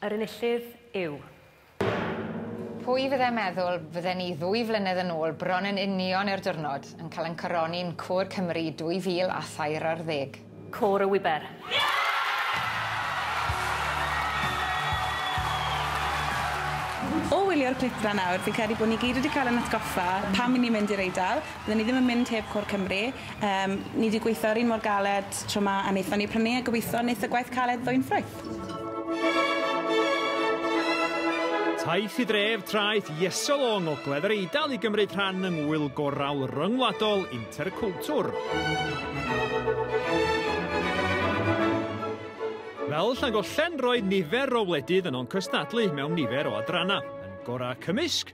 Yr enillydd yw... Pwy fydde meddwl fydden ni ddwy flynedd yn ôl bron yn union i'r diwrnod yn cael ein coroni'n Côr Cymru 2000 a thair ar ddeg. Côr y Wiber. O wylio'r clip 'na nawr fi'n credu bod ni gyd wedi cael ein atgoffa pam 'yn ni'n mynd i'r Eidal. Dyn ni ddim yn mynd heb Côr Cymru. Yym, ni 'di gweithio ar un mor galed tro 'ma a neithon ni prynu a gobitho neith y gwaith caled ddwyn ffrwyth. Taith i dref traeth Iesol o ngogledd yr Eidal i gymryd rhan yng Ngwyl Gorawl Ryngwladol Interculture. Fel Llangollen roedd nifer o wledydd yn o'n cystadlu mewn nifer o adrannau, yn gorau cymysg,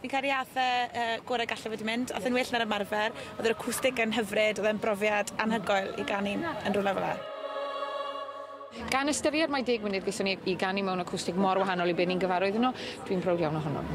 Fi'n credu ath e y gore galle fe 'di mynd. Ath e'n well na'r ymarfer. Odd yr acwstic yn hyfryd, odd e'n brofiad anhygoel i ganu yn rwle fel 'a. Gan ystyried mai deg munud gaethon ni i ganu mewn acwstic mor wahanol i be' ni'n gyfarwydd yno, dwi'n browd iawn ohonom.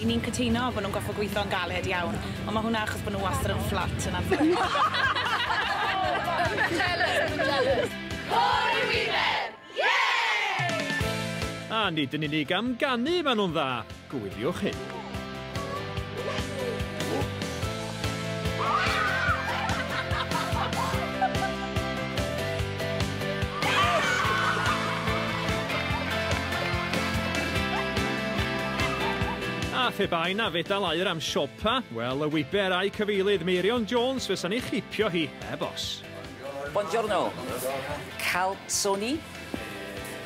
Y'n ni'n cytuno bo' nhw'n gorffod gwitho yn galed iawn, ond ma' hwnna achos bo' nhw wastad yn fflat yn anffodus. Côr y Wibell! Yay! A nid yn unig am ganu ma' nhw'n dda, gwyliwch hyn. A phe bai na fedal aur am siopa, wel y wiber a'i cyfeilydd Meirion Jones fysa'n ei chripio hi heb os. Buongiorno. Calzoni?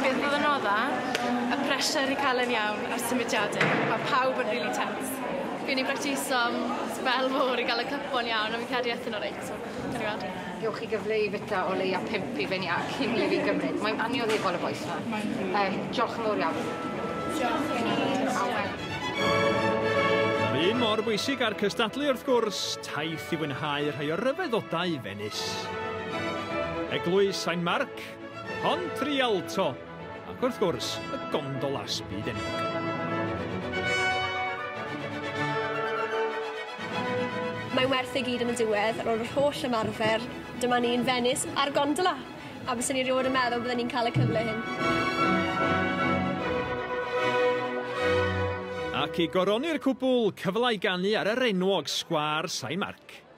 Bydd blynydda y pressure i cael e'n iawn a'r symudiadau, mae pawb yn really tense. Fi'n ei bractiso am sbel mowr i gael y cyplo'n iawn a fi'n credu ethon nhw reit, so gawn ni weld. Gewch chi gyfle i fita o leia pump i fyny a cyn i fi gymryd. Mae'n annioddefol y bois 'ma. Yym, diolch yn fowr iawn. Diolch i chi. A wel. Yr un mor bwysig â'r cystadlu wrth gwrs, taith i fwynhau rhai o ryfeddodau fe. Ynys. Eglwys Sain Marc, Pont Rialto, ac wrth gwrs, y gondolas byd enwog. Mae'n werth ei gyd yn y diwedd, ar ôl yr holl ymarfer, dyma ni yn Fenis ar gondola! A bysen ni rioed yn meddwl bydden ni'n cael y cyfle hyn. Ac i goroni'r cwbl, cyfle i ganu ar yr enwog sgwâr Sain Marc.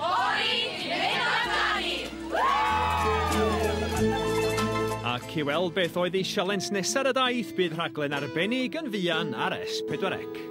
Fory i neud o amdani! Ac i weld beth oedd ei sialens nesa' ar y daith bydd rhaglen arbennig yn fuan ar S4C.